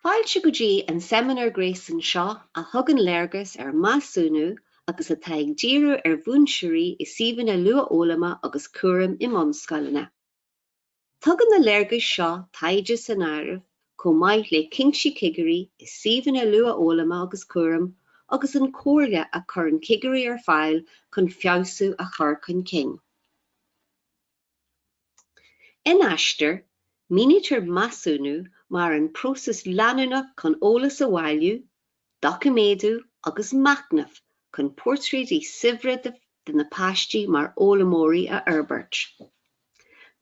Fáilte go dtí an seimineár gréasáin seo a thugann léargas ar mheasúnú agus atá ag díriú ar mhúinteoirí i suíomhanna luathfhoghlama agus cúraim i mbunscoileanna. Tugann na léargais seo taighde san áireamh chomh maith le cinntí cigirí i suíomhanna luathfhoghlama agus cúraim agus an comhairle a chuireann cigirí ar fáil chun feabhsú a chur chun cinn. In Aistear, mínítear measúnú mar an próiseas leanúnach chun eolas a bhailiú, doiciméadú agus machnamh chun portráidí saibhre de na páistí mar fhoghlaimeoirí a fhorbairt.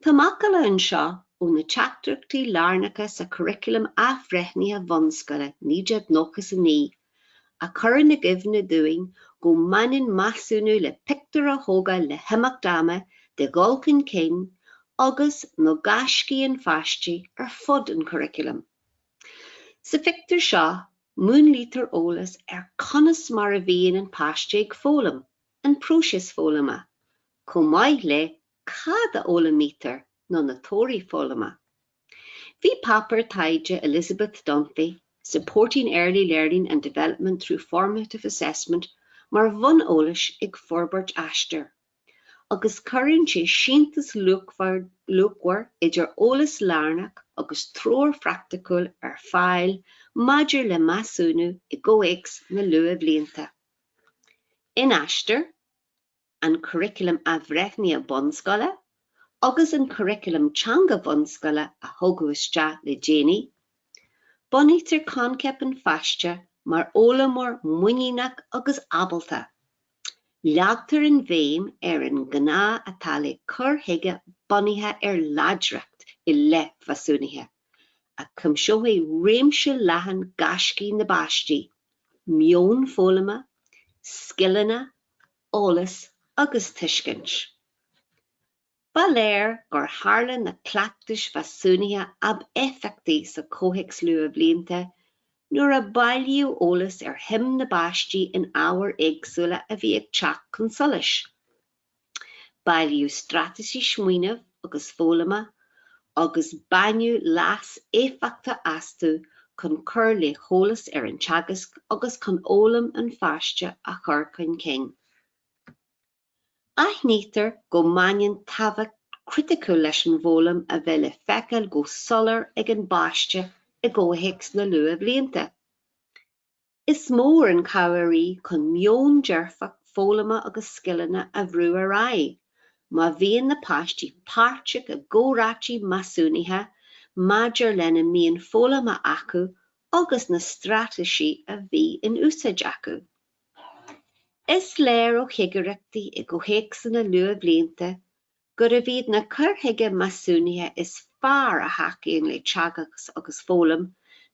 Tá macalla anseo ó na teachtaireachtaí lárnacha sa Churaclam Athbhreithnithe Bhunscoile 1999, a chuireann i gcuimhne dúinn go mbaineann measúnú le pictiúr a thógáil le himeacht ama de dhul chun cinn agus, nó gaiscí an pháiste ar fud an churaclaim. Sa phictiúr seo, múnlaítear eolas ar conas mar a bhíonn an páiste ag foghlaim, an próiseas foghlama, chomh maith le cad a fhoghlaimítear nó na torthaí foghlama. Bhí páipéar taighde Elizabeth Dunphy, Supporting Early Learning and Development through Formative Assessment mar bhonn eolais ag forbairt Aistear. agus cuireann sé sintéis luachmhar idir eolas lárnach agus treoir phraicticiúil ar fáil maidir le measúnú i gcomhthéacs na luathbhlianta. In Aistear, an Curaclam Athbhreithnithe Bhunscoile agus an Curaclam Teanga Bhunscoile a thugadh isteach le déanaí, bunaítear coincheap an pháiste mar fhoghlaimeoir muiníneach agus ábalta. Leagtar an bhéim ar an ngá atá le cur chuige bunaithe ar láidreacht i leith mheasúnaithe, a chuimseoidh réimse leathan gaiscí na bpáistí, meon foghlama, scileanna, eolas agus tuiscint. Ba léir gur tharla na cleachtais mheasúnaithe ab éifeachtaí sa chomhthéacs luathbhlianta nuair a bailíodh eolas ar shuim na bpáistí in ábhair éagsúla a bhí ag teacht chun solais. Bailíodh straitéisí smaoinimh agus foghlama agus baineadh leas éifeachtach astu chun cur le heolas ar an teagasc agus chun fhoghlaim an pháiste a chur chun cinn. Aithnítear go mbaineann tábhacht chriticiúil leis an bhfoghlaim a bheith le feiceáil go soiléir ag an bpáiste i gcomhthéacs na luathbhlianta. Is mór an chabhair í chun meon dearfach foghlama agus scileanna a bhrú ar aghaidh má bhíonn na páistí páirteach i gcomhráití measúnaithe maidir lena mbíonn foghlamtha acu agus na straitéisí a bhí in úsáid acu. Is léir ó chigireachtaí i gcomhthéacsanna luathbhlianta gurbh iad na cuir chuige measúnaithe is fearr a thacaíonn le teagasc agus foghlaim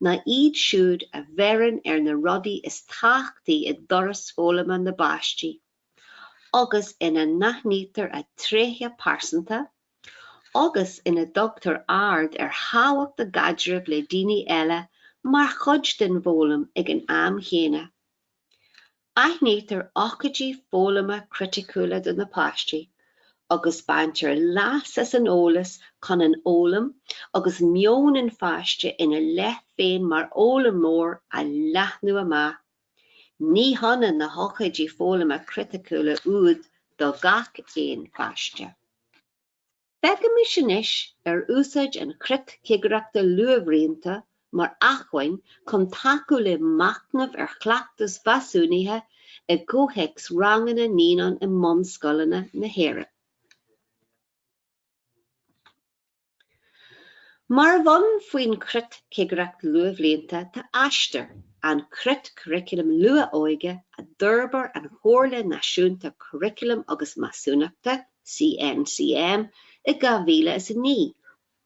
ná iad siúd a bheireann ar na rudaí is tábhachtaí i dturas foghlama na bpáistí agus ina n-aithnítear a dtréithe pearsanta agus ina dtugtar aird ar thábhacht a gcaidreamh le daoine eile mar chuid den bhfoghlaim ag an am chéanna. Aithnítear ócáidí foghlama criticiúla do na páistí agus baintear leas as an eolas chun an fhoghlaim agus meon an pháiste ina leith féin mar fhoghlaimeoir a leathnú amach. Ní hionann na hócáidí foghlama criticiúla úd do gach aon pháiste. Féachaimis anois ar úsáid an chreat chigireachta luathbhlianta mar acmhainn chun tacú le machnamh ar chleachtais mheasúnaithe i gcomhthéacs ranganna naíonán i mbunscoileanna na hÉireann. Mar bhonn faoin chreat chigireacht luathbhlianta tá Aistear, an Creat Curaclaim Luath-Óige a d'fhorbair an Chomhairle Náisiúnta Curaclaim agus Measúnachta, CNCM i 2009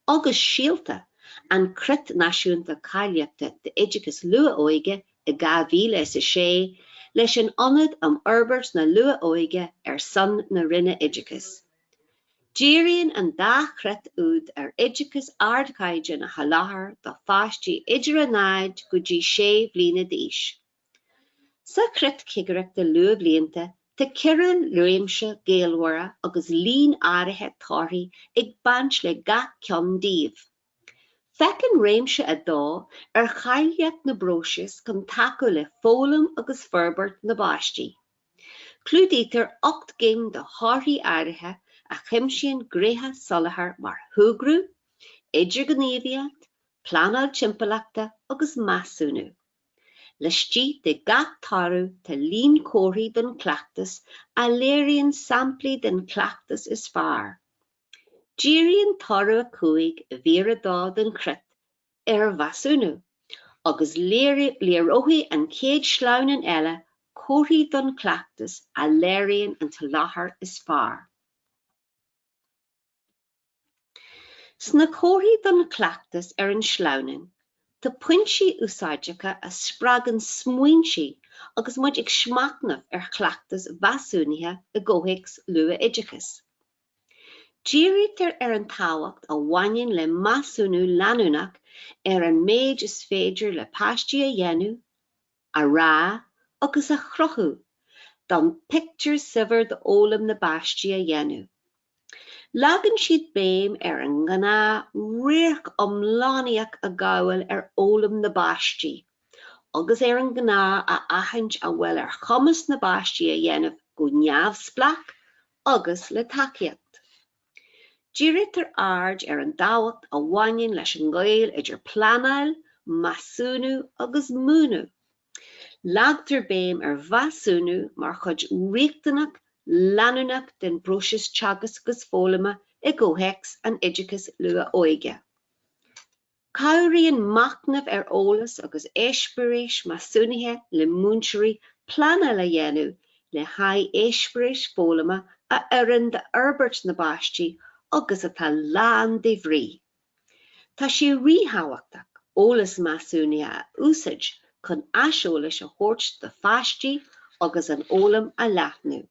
agus Síolta, an Creat Náisiúnta Cáilíochta d'Oideachas Luath-Óige i 2006 leis an Ionad um Fhorbairt na Luath-Óige ar son na Roinne Oideachais. Díríonn an dá chreat úd ar oideachas ardchaighdeáin a sholáthar do pháistí idir a náid go dtí sé bhliana d'aois. Sa Chreat Chigireachta Luathbhlianta tá ceithre réimse gaolmhara agus líon áirithe torthaí ag baint le gach ceann díobh. Féachann Réimse 2 ar cháilíocht na bpróiseas chun tacú le foghlaim agus forbairt na bpáistí. Clúdaítear ocht gcinn de thorthaí áirithe a chuimsíonn gnéithe soláthair mar shúgradh, idirghníomhaíocht, pleanáil timpeallachta agus measúnú. Laistigh de gach toradh tá líon comharthaí don chleachtas a léiríonn samplaí den chleachtas is fearr. Díríonn toradh 5 i Mír 2 den Chreat ar Mheasúnú agus léireoidh an chéad sleamhnán eile comharthaí don chleachtas a léiríonn an soláthar is fearr. Sna comharthaí don chleachtas ar an sleamhnán tá pointí úsáideacha a spreagann smaointí agus muid ag machnamh ar chleachtas mheasúnaithe i gcomhthéacs luath-oideachais. Dírítear ar an tábhacht a bhaineann le measúnú leanúnach ar an méid is féidir le páistí a dhéanamh, a rá agus a chruthú d'fhonn pictiúr saibhir d'fhoghlaim na bpáistí a dhéanamh. Leagann siad béim ar an ngá radharc iomlánaíoch a ghabháil ar fhoghlaim na bpáistí agus ar an ngá a aithint a bhfuil ar chumas na bpáistí a dhéanamh go neamhspleách agus le tacaíocht. Dírítear aird ar an dtábhacht a bhaineann leis an ngaol idir pleanáil, measúnú agus múineadh. Leagtar béim ar mheasúnú mar chuid riachtanach leanúnach den bpróiseas teagasc agus foghlama i gcomhthéacs an oideachais luath-óige. Cabhraíonn machnamh ar eolas agus eispéiris measúnaithe le múinteoirí pleanáil a dhéanamh le haghaidh eispéiris foghlama a oireann d'fhorbairt na bpáistí agus atá lán de bhrí. Tá sé ríthábhachtach eolas measúnaithe a úsáid chun aiseolas a thabhairt do pháistí agus an fhoghlaim a leathnú.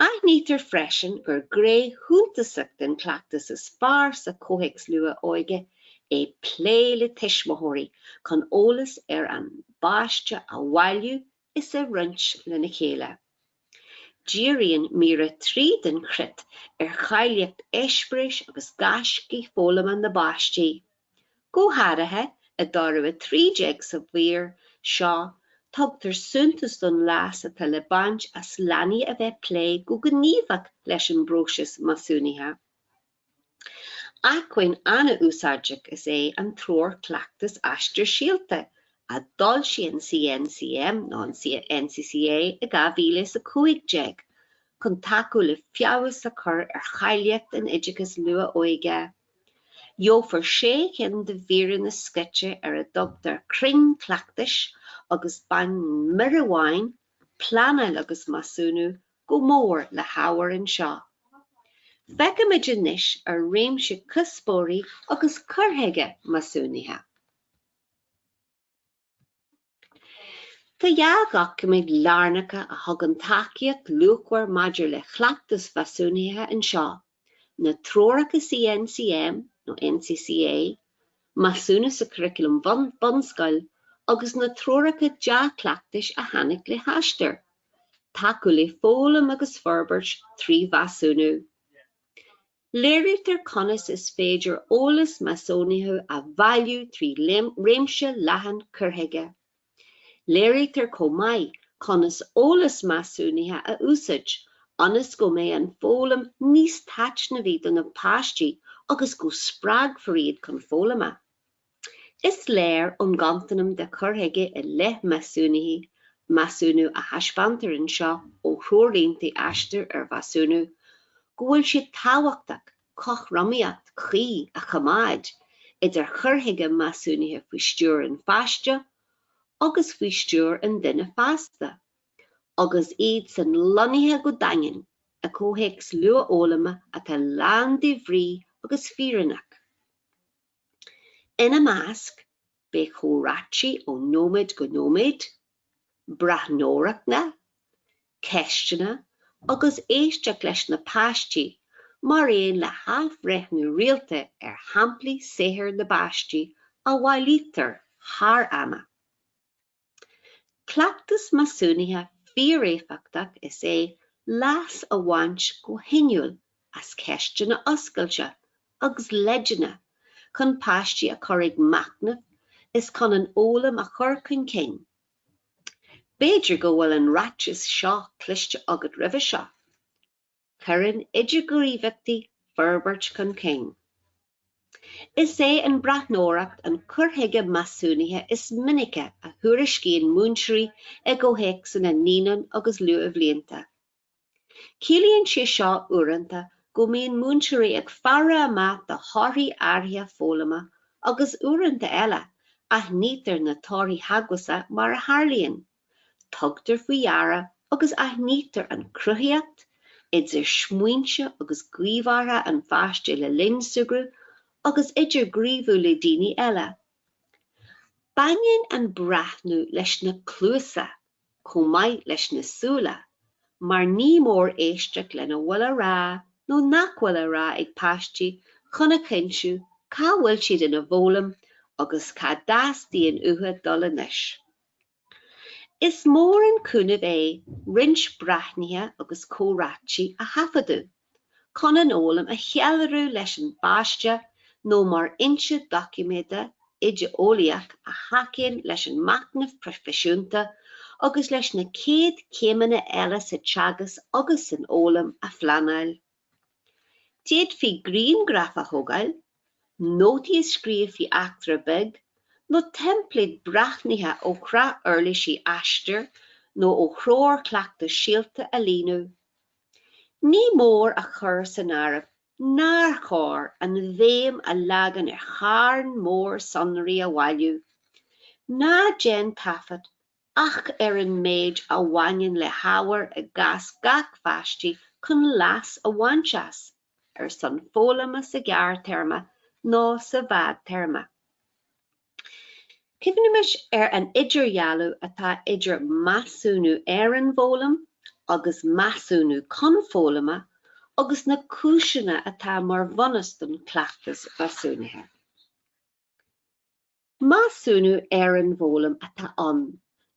Aithnítear freisin gur ghné shuntasach den chleachtas is fearr sa gcomhthéacs luath-óige é plé le tuismitheoirí chun eolas ar an bpáiste a bhailiú is a roinnt lena chéile. Díríonn Mír 3 den Chreat ar cháilíocht eispéiris agus gaiscí foghlama na bpáistí. Go háirithe i dtoradh 13 sa mhír seo tugtar suntas don leas atá le baint as leanaí a bheith plé go gníomhach leis an bpróiseas measúnaithe. Acmhainn an-úsáideach is é an Treoir Cleachtais Aistear Síolta a d'fhoilsigh an CNCM nó an NCCA i 2015 chun tacú le feabhas a chur ar cháilíocht an oideachais luath-óige. Gheofar sé cinn de mhíreanna scoite ar a dtugtar crainn cleachtais agus baineann mír amháin, Pleanáil agus Measúnú, go mór le hábhar anseo. Feicfimid anois ar réimse cuspóirí agus cur chuige measúnaithe. Tá dhá dhoiciméad lárnacha a thugann tacaíocht luachmhar maidir le cleachtais mheasúnaithe anseo, na Treoracha CNCM, nó NCCA, Measúnú sa Churaclam Bunscoile agus na Treoracha Dea-Chleachtais a tháinig le hAistear, Tacú le Foghlaim agus Forbairt trí Mheasúnú. Léirítear conas is féidir eolas measúnaithe a bhailiú trí réimse leathan cur chuige. Léirítear chomh maith conas eolas measúnaithe a úsáid ionas go mbeidh an foghlaim níos taitneamhaí do na páistí agus go spreagfar iad chun foghlama. Is léir ón gcontanam de chur chuige i leith measúnaithe, measúnú a thaispeántar anseo ó threoirlínte Aistear ar Mheasúnú, go bhfuil sé tábhachtach cothromaíocht chuí a choimeád idir chur chuige measúnaithe faoi stiúir an pháiste agus faoi stiúir an duine fásta, agus iadsan lonnaithe go daingean i gcomhthéacs luathfhoghlama atá lán de bhrí agus fírinneach. Ina measc beidh comhráite ó nóiméad go nóiméad, breathnóireachtaí, ceisteanna agus éisteacht leis na páistí mar aon le hathbhreithniú rialta ar shamplaí saothair na bpáistí a bhailítear thar ama. Cleachtas measúnaithe fíoréifeachtach is é leas a bhaint go hinniúil as ceisteanna oscailte agus leideanna chun páistí a chur ag machnamh is chun an fhoghlaim a chur chun cinn. B'fhéidir go bhfuil an ráiteas seo cloiste agat roimhe seo, Cuireann idirghníomhaíochtaí forbairt chun cinn. Is é an breathnóireacht an cur chuige measúnaithe is minice a thuairiscíonn múinteoirí i gcomhthéacsanna naíonán agus luathbhlianta. Ciallaíonn sé seo uaireanta go mbíonn múinteoirí ag faire amach do thorthaí áirithe foghlama agus uaireanta eile aithnítear na torthaí teagmhasacha mar a tharlaíonn. Tugtar faoi deara agus aithnítear an chruthaitheacht idir smaointe agus gníomhartha an pháiste le linn súgartha agus idirghníomhú le daoine eile. Baineann an breathnú leis na cluasa chomh maith leis na súile mar ní mór éisteacht lena bhfuil á rá nó nach bhfuil á rá ag páistí chun a chinntiú cá bhfuil siad ina bhfoghlaim agus cá dteastaíonn uathu dul anois. Is mór an cúnamh é roinnt breathnuithe agus comhráití a thaifeadadh, chun an fhoghlaim a cheiliúradh leis an bpáiste nó mar fhoinse doiciméada oideolaíoch a thacaíonn leis an machnamh proifisiúnta agus leis na céad céimeanna eile sa teagasc agus san fhoghlaim a phleanáil. D'fhéadfaí grianghraif a thógáil, nótaí a scríobh faoi eachtra bheag, nó teimpléad breathnaithe ó shraith uirlisí Aistear nó ó threoir chleachtais Síolta a líonadh. Ní mór a chur san áireamh nár chóir an bhéim a leagan ar charn mór sonraí a bhailiú. Ná déan taifead ach ar an méid a bhaineann le hábhar i gcás gach páiste chun leas a bhaint as ar son foghlama sa ghearrthéarma nó sa bhfadtéarma. Cuimhnimis ar an idirdhealú atá idir measúnú ar an bhfoghlaim agus measúnú chun foghlama agus na cúiseanna atá mar bhunus don chleachtas measúnaithe. Measúnú ar an bhfoghlaim atá ann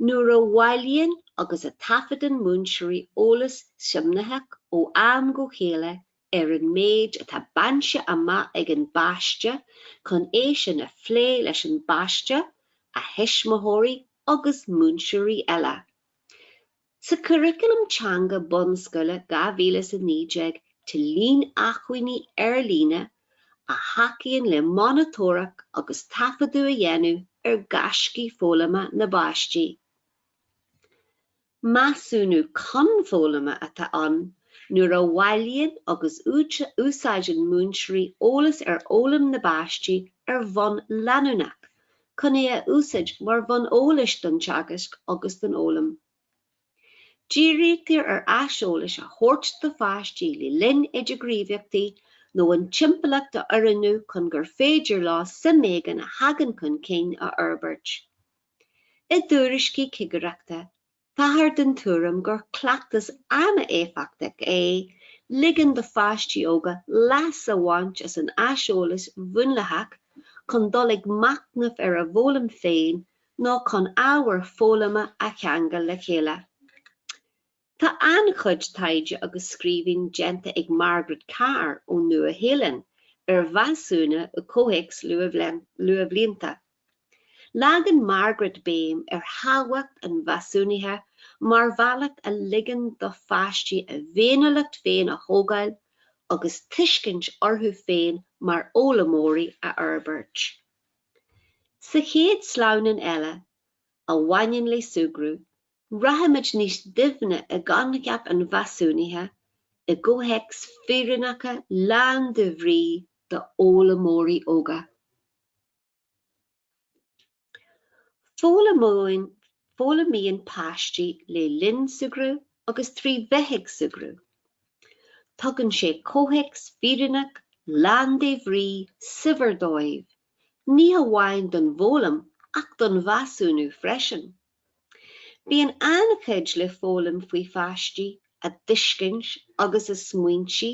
nuair a bhailíonn agus a taifeadann múinteoirí eolas suimitheach ó am go chéile ar an méid atá bainte amach ag an bpáiste chun é sin a phlé leis an bpáiste, a thuismitheoirí agus múinteoirí eile. Sa Curaclam Teanga Bunscoile 2019 tá líon acmhainní ar líne a thacaíonn le monatóireacht agus taifeadadh a dhéanamh ar ghaiscí foghlama na bpáistí. Measúnú chun foghlama atá ann nuair a bhailíonn agus úsáideann múinteoirí eolas ar fhoghlaim na bpáistí ar bhonn leanúnach, chun é a úsáid mar bhonn eolais don teagasc agus don fhoghlaim. Dírítear ar aiseolas a thabhairt do pháistí le linn idirghníomhaíochtaí nó an timpeallacht a oiriúnú chun gur féidir leo suim éigin a thagann chun cinn a fhorbairt. I dtuairiscí cigireachta, Táthar den tuairim gur cleachtas an-éifeachtach é ligean do pháistí óga leas a bhaint as an aiseolas múnlaitheach chun dul ag machnamh ar a bhfoghlaim féin nó chun ábhar foghlama a cheangal le chéile. Tá an-chuid taighde agus scríbhinn déanta ag Margaret Carr ón Nua-Shéalainn ar mheasúnú i gcomhthéacs luathbhlianta. Leagann Margaret béim ar thábhacht an mheasúnaithe mar bhealach a ligeann do pháistí a bhféiniúlacht féin a thógáil agus tuiscint orthu féin mar fhoghlaimeoirí a fhorbairt. Sa chéad sleamhnán eile, a bhaineann le súgradh, rachaimid níos doimhne i gcoincheap an mheasúnaithe i gcomhthéacs fírinneacha lán de bhrí d'fhoghlaimeoirí óga. Foghlaimíonn páistí le linn súgradh agus trí bheith ag súgradh. Tugann sé comhthéacs fírinneach, lán de bhrí, saibhir dóibh, ní hamháin don bhfoghlaim ach don mheasúnú freisin. Bíonn an-chuid le foghlaim faoi pháistí, a dtuiscint agus a smaointe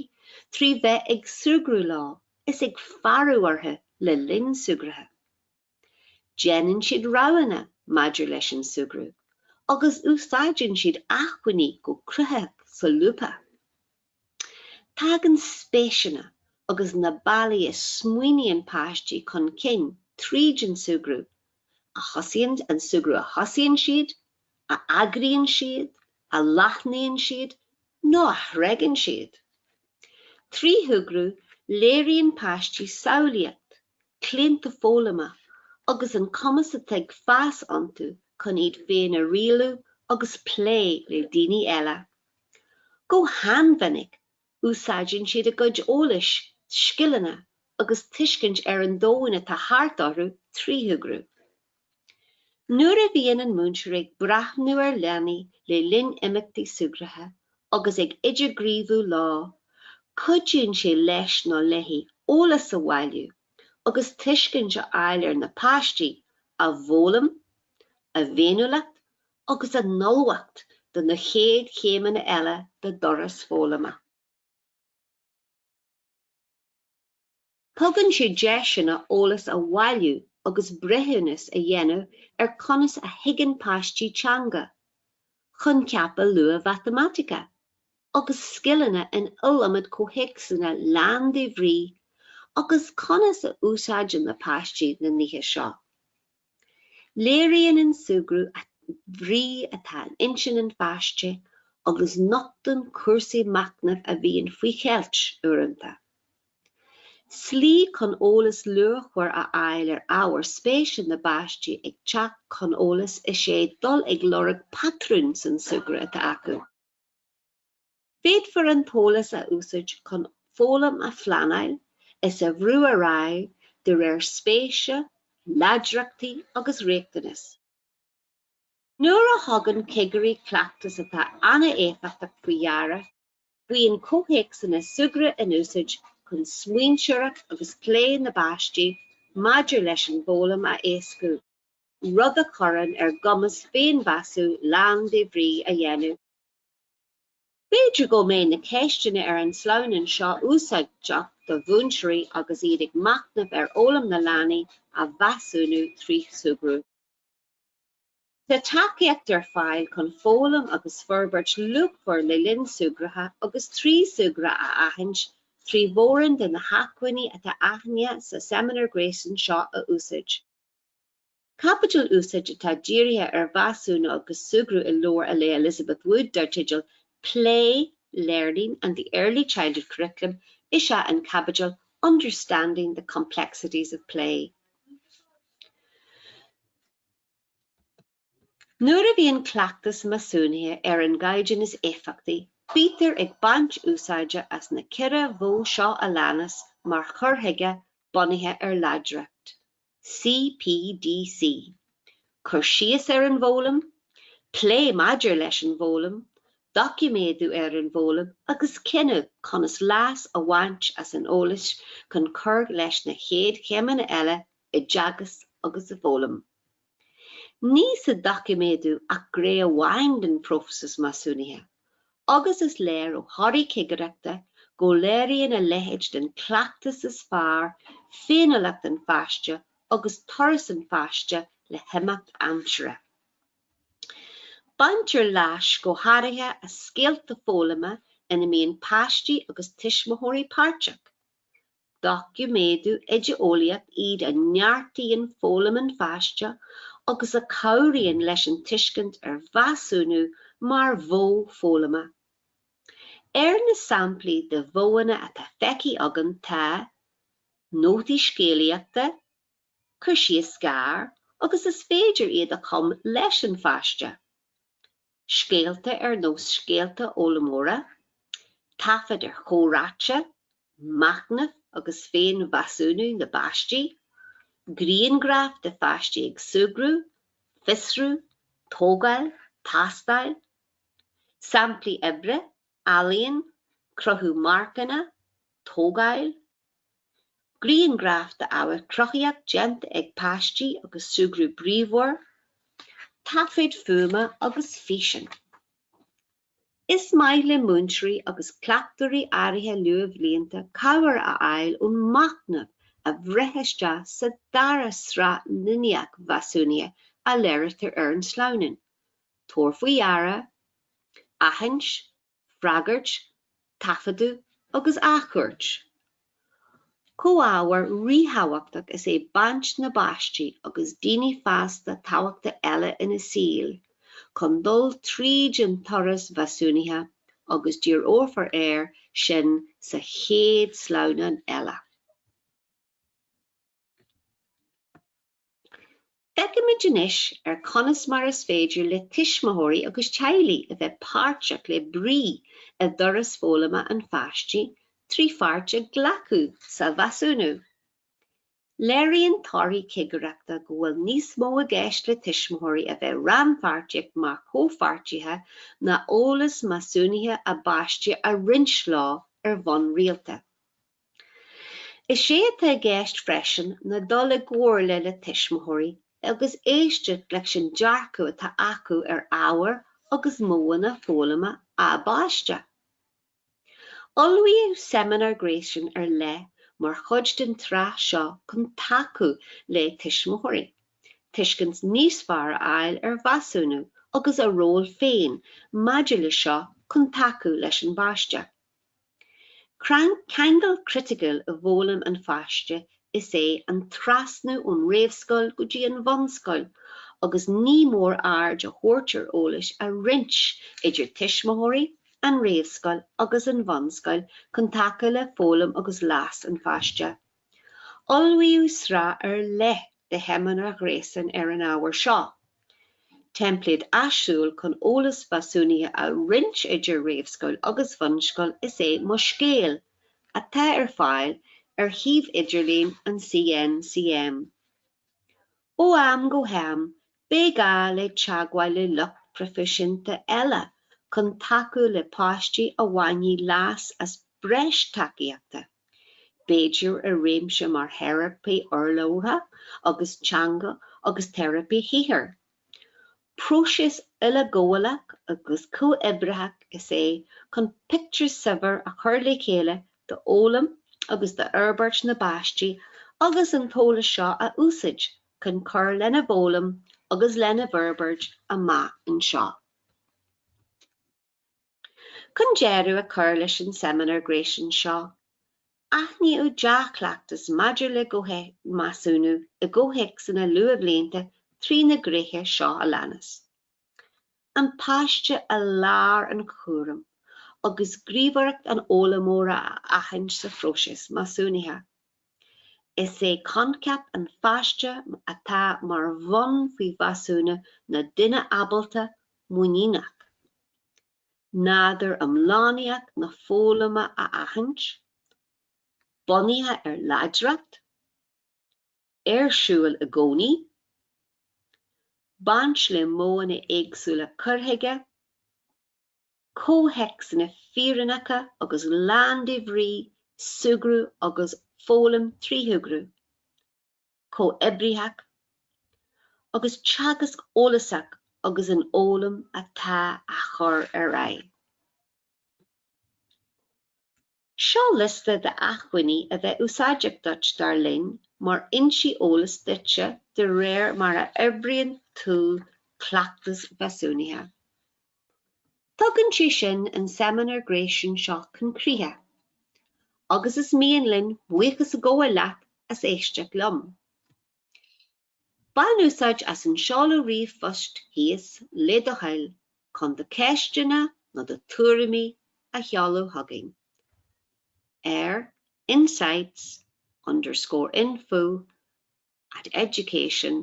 trí bheith ag súgradh leo is ag faireadh orthu le linn súgartha. Déanann siad roghanna maidir leis an súgradh agus úsáideann siad achmhainní go cruthaitheach solúbtha. Tagann spéiseanna agus na bealaí a smaoiníonn páistí chun cinn tríd an súgradh, a thosaíonn an súgradh a thosaíonn siad, a eagraíonn siad, a leathnaíonn siad nó a thréigeann siad. Trí shúgradh léiríonn páistí samhlaíocht, claonta foghlama agus an cumas atá ag fás iontu chun iad féin a rialú agus plé le daoine eile. Go han-mhinic, úsáideann siad a gcuid eolais, scileanna agus tuiscint ar an domhain atá thart orthu trí shúgradh. Nuair a bhíonn an múinteoir ag breathnú ar leanaí le linn imeachtaí súgartha agus ag idirghníomhú leo, cuidíonn sé leis nó léi eolas a bhailiú agus tuiscint a fháil ar na páistí, a bhfoghlaim, a bhféiniúlacht agus a n-ullmhacht do na chéad chéimeanna eile dá dturas foghlama. Tugann sé deiseanna eolas a bhailiú agus breithiúnas a dhéanamh ar conas a thuigeann páistí teanga, coincheapa luath mhatamaitice, agus scileanna in iliomad comhthéacsanna lán de bhrí agus conas a úsáideann na páistí na nithe seo. Léiríonn an súgradh an bhrí atá in intinn an pháiste agus nochtann cúrsaí machnaimh a bhíonn faoi cheilt uaireanta. Slí chun eolas luachmhar a fháil ar ábhair spéise na bpáistí ag teacht chun eolais is ea dul ag lorg patrún san súgradh atá acu. Féadfar an t-eolas a úsaid chun foghlaim a phleanáil is a bhrú ar aghaidh de réir spéise, láidreachtaí agus riachtanas. Nuair a thugann cigirí cleachtas atá an-éifeachtach faoi dheara, bíonn comhthéacsanna súgradh in úsaid chun smaointeoireacht agus plé na bpáistí maidir leis an bhfoghlaim a éascú, rud a chuireann ar a gcumas féinmheasú lán de bhrí a dhéanamh. B'fhéidir go mbeidh na ceisteanna ar an sleamhnán seo úsáideach do mhúinteoirí agus iad ag machnamh ar fhoghlaim na leanaí a mheasúnú trí súgradh. Tá tacaíocht ar fáil chun foghlaim agus forbairt luachmhar le linn súgartha agus trí súgradh a aithint trí mhórán de na hacmhainní atá aitheanta sa Seimineár Gréasáin seo a úsáid. Caibidil úsáideach atá dírithe ar mheasúnú agus súgradh i leabhar le Elizabeth Wood dar teideal 'Play, Learning and the Early Childhood Curriculum' is ea an caibidil 'Understanding the Complexities of Play'. Nuair a bhíonn cleachtas measúnaithe ar an gcaighdeán is éifeachtaí, bítear ag baint úsáide as na ceithre mhodh seo a leanas mar chur chuige bunaithe ar láidreacht. CPDC. Cur síos ar an bhfoghlaim, plé maidir leis an bhfoghlaim, doiciméadú ar an bhfoghlaim agus cinneadh conas leas a bhaint as an eolas chun cur leis na chéad chéimeanna eile i dteagasc agus i bhfoghlaim. Níl sa doiciméadú ach gné amháin den phróiseas measúnaithe, agus is léir ó thorthaí cigireachta go léiríonn a leithéid den chleachtas is fearr féiniúlacht an pháiste agus turas an pháiste le himeacht aimsire. Baintear leas go háirithe as scéalta foghlama ina mbíonn páistí agus tuismitheoirí páirteach. Doiciméadú oideolaíoch iad a neartaíonn foghlaim an pháiste agus a cabhraíonn leis an tuiscint ar mheasúnú mar mhodh foghlama. Ar na samplaí de mhodhanna atá feicthe againn tá, nótaí scéalaíochta, cur síos gearr agus is féidir iad a chumadh leis an pháiste, scéalta ar nós scéalta fhoghlaimeora, taifid ar chomhráite, machnamh agus féinmheasúnú na bpáistí, grianghraif de pháistí ag súgradh, fiosrú, tógáil, tástáil, samplaí oibre ealaín, cruthú marcanna, tógáil, grianghraif de ábhair cruthaíoch déanta ag páistí agus súgradh bríomhar, taifid fuaime agus físean. Is maith le múinteoirí agus cleachtóirí áirithe luathbhlianta cabhair a fháil ón machnamh a bhreith isteach sa dara sraith ghníomhaíocht mheasúnaithe a léiritear ar an sleamhnán. Tabhair faoi deara, aithint, freagairt, taifeadadh agus athchuairt. Comhábhar ríthabhachtach is é baint na bpáistí agus daoine fásta tábhachta eile ina saol chun dul tríd an turas mheasúnaithe agus díreofar air sin sa chéad sleamhnán eile. Feicfimid anois ar conas mar is féidir le tuismitheoirí agus teaghlaigh a bheith páirteach le brí i dturas foghlama an pháistí trí pháirt a ghlacadh sa mheasúnú. Léiríonn torthaí cigireachta go bhfuil níos mó i gceist le tuismitheoirí a bheith rannpháirteach mar chomhpháirtithe ná eolas measúnaithe a bpáiste a roinnt leo ar bhonn rialta. Is é atá i gceist freisin ná dul i gcomhairle le tuismitheoirí agus éisteacht leis an dearcadh atá acu ar ábhair agus modhanna foghlama a bpáiste. Ullmhaíodh seimineár gréasáin ar leith mar chuid den tsraith seo chun tacú le tuismitheoirí tuiscint níos fearr a fháil ar mheasúnú agus a ról féin maidir leis seo chun tacú leis an bpáiste. Ceangal criticiúil i bhfoghlaim an pháiste is é an trasnú ón réamhscoil go dtí an bhunscoil agus ní mór aird a thabhairt ar eolas a roinnt idir tuismitheoirí, an réamhscoil agus an bhunscoil chun tacú le foghlaim agus leas an pháiste. Ullmhaíodh sraith ar leith de sheimineáir ghréasáin ar an ábhar seo, teimpléad áisiúil chun eolas mheasúnaithe a roinnt idir réamhscoil agus bhunscoil is é Mo Scéal, atá ar fáil ar shuíomh idirlín an CNCM. Ó am go ham beidh gá le teagmháil le lucht proifisiúnta eile chun tacú le páistí a bhainfidh leas as breis tacaíochta, b'fhéidir i réimse mar theiripí urlabhra agus teanga agus teiripí shaothair. Próiseas uileghabhálach agus comhoibritheach is é chun pictiúr saibhir a chur le chéile d'fhoghlaim agus d'fhorbairt na bpáistí agus an t-eolas seo a úsáid chun cur lena bhfoghlaim agus lena bhforbairt amach anseo. Chun deireadh a chur leis an seimineár gréasáin seo, aithníodh dea-chleachtas maidir le measúnú i gcomhthéacsanna luathbhlianta trí na gréithe seo a leanas, an páiste i lár an chúraim agus gníomhaireacht an fhoghlaimeora a aithint sa phróiseas measúnaithe. Is é coincheap an pháiste atá mar bhonn faoi mheasúnú ná duine ábalta muiníneach, nádúr iomlánaíoch na foghlama a aithint, bunaithe ar láidreacht, ar siúl i gcónaí, baint le modhanna éagsúla cuir chuige, comhthéacsanna fírinneacha agus lán de bhrí, súgradh agus foghlaim trí shúgradh chomhoibritheach, agus teagasc eolasach agus an fhoghlaim atá á chur ar aghaidh. Seo liosta de achmhainní a bheadh úsáideach duit dar linn mar fhoinsí eolas duitse de réir mar a fhorbraíonn tú cleachtas mheasúnaithe. Tugann sé sin an seimineár gréasáin seo chun críche, agus is mian linn buíochas a ghabháil leat as éisteacht liom. Bain úsáid as an seoladh ríomhphoist thíos le do thoil chun do cheisteanna nó do thuairimí a sheoladh chugainn ar insights underscore info at education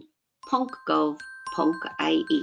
ponc gov ponc ie.